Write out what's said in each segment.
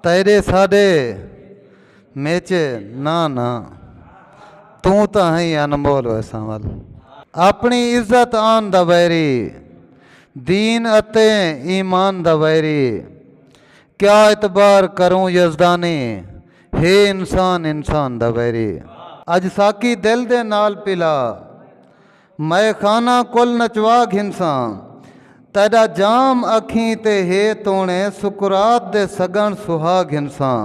تیݙے ساݙے میچ نہ نہ توں تاں ہئیں انمول ویساں ول اپݨی عزت آن دا ویری دین اتے ایمان دا ویری کیا اعتبار کروں یزدانی ہے انسان انسان دا ویری اڄ ساکی دل دے نال پلا مئے خانہ کل نچوا گھنساں تیݙا جام اکھیں تے ہے توݨے سکرات دے سڳݨ سہا گھنساں۔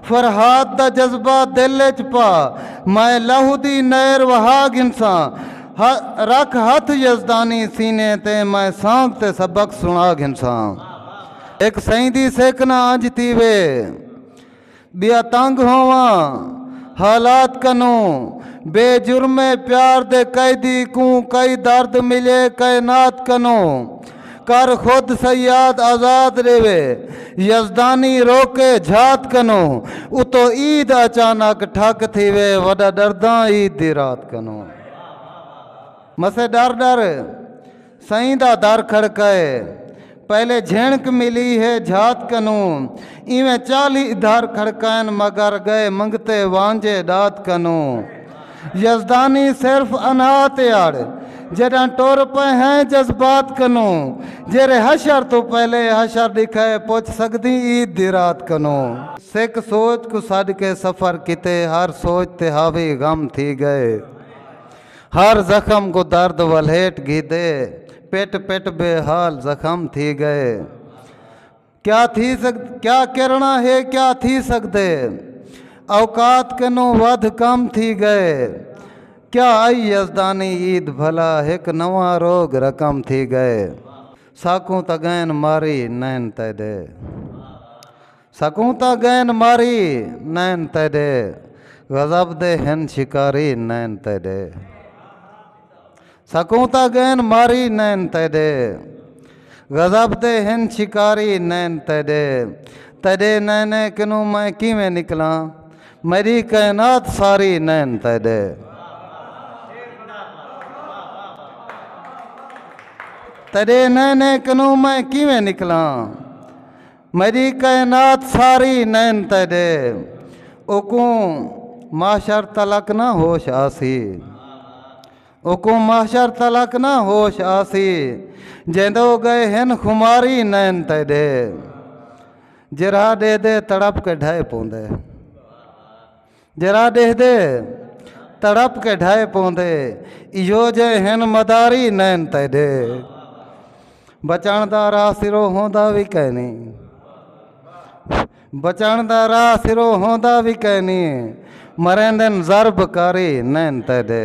فرہاد دا جذبہ دل اچ پا مئے لہو دی نہر وہا گھنساں رکھ ہتھ یزدانی سینے تے مئے سانگ تے سبق سݨا گھنساں اک سئیں دی سیکھنا انج تھیوے۔ ٻیا تنگ ہوواں حالات کنوں بے جرمے پیار دے قیدی کوں کئی درد ملے کائنات کنوں کر خود صیاد آزاد ریوے یزدانی روکے جھات کنوں اتو عید اچانک ٹھک تھیوے وڈا ڈرداں عید دی رات کنوں مسے ڈر ڈر سئیں دا در کھڑکائے پہلے جھینک ملی ہے جھات کنوں ایویں چالیہہ در کھڑکائن مگر گئے منگتے وانجھے ݙات کنوں یزدانی صرف انہا تے اڑ جݙاں ٹر پئے ہیں جذبات کنوں جیرھے حشر توں پہلے حشر ݙکھائے پچھ سڳدیں عید دی رات کنوں۔ سک سوچ کوں سݙ کے سفر کیتے ہر سوچ تے حاوی غم تھی ڳئے ہر زخم کوں درد ولھیٹ گھیدے پٹ پٹ بے حال زخم تھی گئے کیا تھی سگ کیا کرنا ہے کیا تھی سگدے اوقات کنوں ودھ کم تھی گئے کیا آئی یزدانی عید بھلا ہک نواں روگ رقم تھی گئے ساکوں تگین ماری نین تیدے سکوں تاں گین ماری نین تیڈے غضب دے ہن شکاری نین تیڈے سکوں تاں گین ماری نین تیڈے غضب دے ہن شکاری نین تیڈے تیڈے نینے کنوں میں کیویں نکلاں میری کائنات ساری نین تیڈے تیڈے نینے کنوں میں کیویں نکلاں میݙی کائنات ساری نین تیݙے اوکوں محشر تلک نہ ہوش آسی اوکوں محشر تلک نہ ہوش آسی جیندو گئے ہن خماری نین تیݙے جرہا ݙے دے تڑپ کے ڈھائے پوندے جرا ڈیہدے تڑپ کے ڈھائے پوندے ایہو جے ہن مداری نین تیڈے بچن دا راہ سرو ہوندا وی کینی بچن دا راہ سرو ہوندا وی کینی مریندن ضرب کاری نین تیڈے